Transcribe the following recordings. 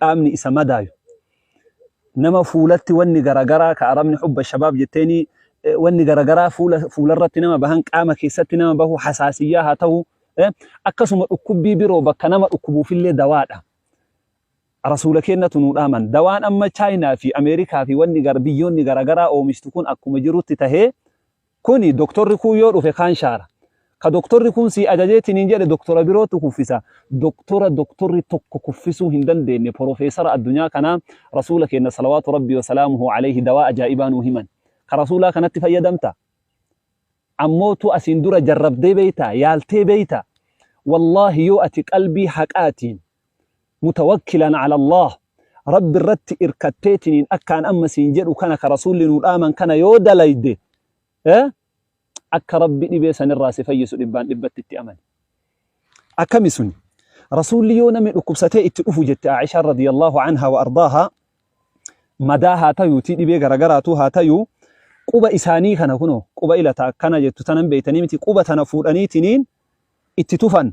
qaamni isa madaayu nama fuulatti wanni garagaraa ka arabni hubba shabaab jetteeni wanni garagaraa fuula fuularratti nama bahan qaama keessatti nama bahu hasaasiyyaa haa tahu akkasuma dhukkubbii biroo bakka nama dhukkubuufillee dawaadha rasuula kennatu nuu dhaaman dawaan amma chaayinaa fi ameerikaa fi wanni gar biyyoonni garagaraa oomishtu kun akkuma jirutti tahee Kuni doktorri kuun yoo dhufe kaan shaara. Ka doktorri kuun sii ajajee tiniin jedhe doktora birootu kuffisa. Doktora doktorri tokko kuffisuu hin dandeenne porofeesara addunyaa kanaa Rasuula keenna salawaatu Rabbii wa salaamuhu aleyhi dawaa ajaa'ibaa nuu himan. Ka Rasuulaa kanatti fayyadamta? Ammootu asiin dura jarrabdee beeytaa? Yaaltee beeytaa? Wallaahi yoo ati qalbii haqaatiin. mutawakkilan ala Allaah, Rabbi irratti irkatteetiniin akkaan amma siin jedhu kana ka Rasuulli nuu dhaaman kana yoo dalayde, akka Rabbi dhibee san irraa si fayyisu dhibbaan dhibbatti itti amani. Akkami suni? Rasuulli yoo namni dhukkubsatee itti dhufu jette Aa'ishaan radiyallaahu anhaa wa ardaahaa, madaa haa tayuutii dhibee garagaraatuu haa tayuu, quba isaanii kana kunoo, quba ila ta akkana jettu tana hin beeytanii miti, quba tana fuudhaniitiniin itti tufan,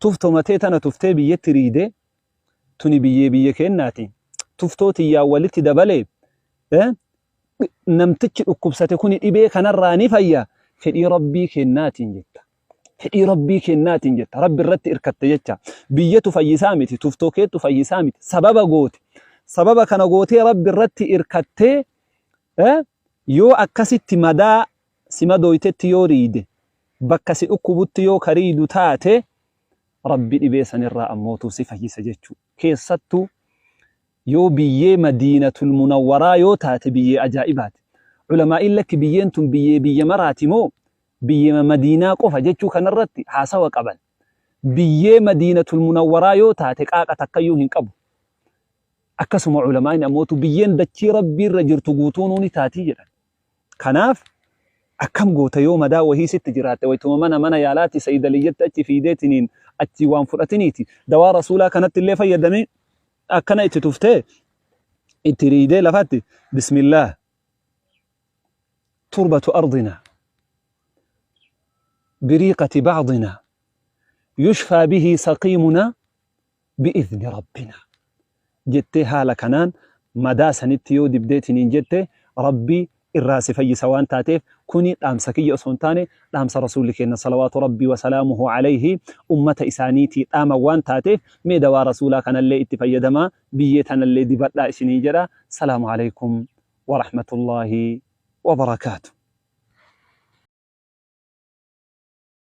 Tuf tomatee tana tuftee biyyetti riidee tuni biyyee biyya keennaati tuftoo tiyyaan walitti dabale namtichi dhukkubsate kuni dhibee kanarraa ni fayya fedhii rabbii keennaatiin jetta fedhii rabbii keennaatiin jetta rabbi irratti irkatte jecha biyyatu fayyisaa miti tuftoo keettu fayyisaa miti sababa goote sababa kana gootee rabbi irratti irkattee yoo akkasitti madaa sima dooytetti yoo riide bakka si dhukkubutti yoo ka riidu taate Rabbi dhibee sanirraa ammootuu si fayyisa jechuu. Keessattuu yoo biyyee Madiinatul Munawwaraa yoo taate biyyee ajaa'ibaati. Ulamaa'iin lakki biyyeen tun biyyee biyya maraati moo biyyeema Madiinaa qofa jechuu kanarratti haasawa qaban. Biyyee Madiinatul Munawwaraa yoo taate qaaqa takkayyuu hin qabu. Akkasuma ulamaa'in ammootu biyyeen dachii Rabbiirra jirtu guutuunuu ni taatii jedhan. Kanaaf akkam goota yoo madaa wahii sitti jiraatte waytuma mana mana yaalaati saydaliyyatti achi fiideetiniin achii waan fudhatiniiti dawaa rasuulaa kanatti illee fayyadamii akkana itti tuftee itti riidee lafatti bismillaah turbatu ardina biriiqati bacdina yushfaa bihi saqiimuna bi'izni rabbinaa jettee haala kanaan madaa sanitti yoo dibdeetiniin jette rabbi irraa si fayyisa waan taateef kuni dhaamsa kiyya osoo hin taane dhaamsa rasuulli keenna salawaatu rabbii wasalaamuhu alayhi ummata isaaniitii dhaaman waan taateef mee dawaa rasuulaa kanallee itti fayyadamaa biyyee tanallee dibadhaa isiniin jedha salaamu alaykum warahmatullaahi wabarakaatu